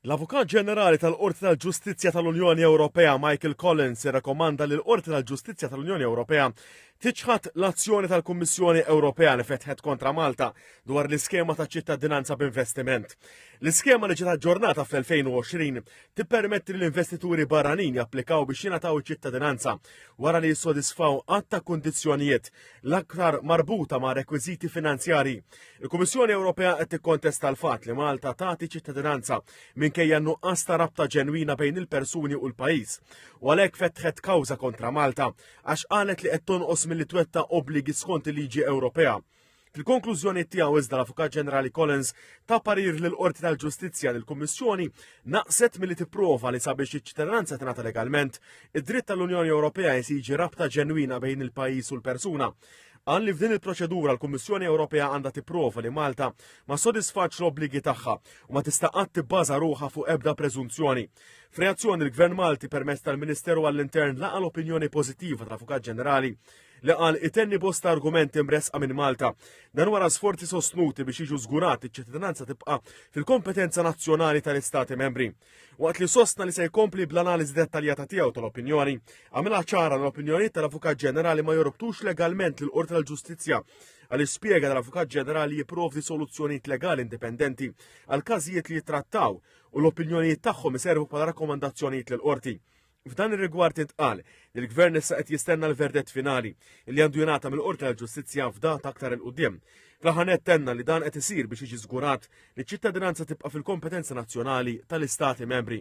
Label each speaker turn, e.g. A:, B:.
A: L-Avukat Ġenerali tal-Qorti tal-Ġustizzja tal-Unjoni Ewropea Michael Collins irrakomanda li l-Qorti tal-Ġustizzja tal-Unjoni Ewropea tiċħad l-azzjoni tal-Kummissjoni Ewropea li fetħet kontra Malta dwar l-iskema ta' ċittadinanza b'investiment. L-iskema li ġiet aġġornata fl-2020 tippermetti li l-investituri barranin japplikaw biex jingħataw iċ-ċittadinanza wara li jissodisfaw għadd ta' kundizzjonijiet l-aktar marbuta ma' rekwiżiti finanzjari Il-Kummissjoni Ewropea qed tikkontesta l-fatt li Malta tagħti ċittadinanza minkejja nuqqas ta' rabta ġenwina bejn il-persuni u l-pajjiż. U għalhekk fetħet kawża kontra Malta għax qalet li qed tonqos milli twetta obbligi skont il-liġi Ewropea. Fil-konklużjoni tiegħu iżda l-Avukat Ġenerali Collins ta' parir l qorti tal-Ġustizzja li l-Kummissjoni naqset milli tipprova li sabiex iċ-ċittadinanza tingħata legalment, id-dritt tal-Unjoni Ewropea jesiġi rabta ġenwina bejn il-pajjiż u l-persuna. Qal li f'din il-proċedura l-Kummissjoni Ewropea għandha tipprova li Malta ma sodisfatx l-obbligi tagħha u ma tista' qatt tibbaża ruħha fuq ebda preżunzjoni. F'reazzjoni l-Gvern Malti permezz tal-Ministeru għall-Intern laqa l-opinjoni pożittiva tal-Avukat Ġenerali li qal itenni bosta argumenti mresqa minn Malta. Dan wara sforzi sostnuti biex jiġu żgurat iċ-ċittadinanza tibqa' fil-kompetenza nazzjonali tal-Istati membri. Waqt li sostna li se jkompli bl-analiżi dettaljata tiegħu tal-opinjoni, għamilha ċara l-opinjonijiet tal-Avukat Ġenerali ma jorbtux legalment l qorti tal-Ġustizzja għal spjega tal-Avukat Ġenerali jipprovdi soluzzjonijiet legali indipendenti għal każijiet li jittrattaw u l-opinjonijiet tagħhom iservu bħala rakkomandazzjonijiet lill qorti F'dan ir-rigward intqal li l-Gvern issa qed jistenna l-verdett finali li għandu jingħata mill-Qorti tal-Ġustizzja f'data aktar il qudiem Fl-aħħar tenna li dan qed isir biex jiġi żgurat li ċ-ċittadinanza tibqa' fil-kompetenza nazzjonali tal-Istati membri.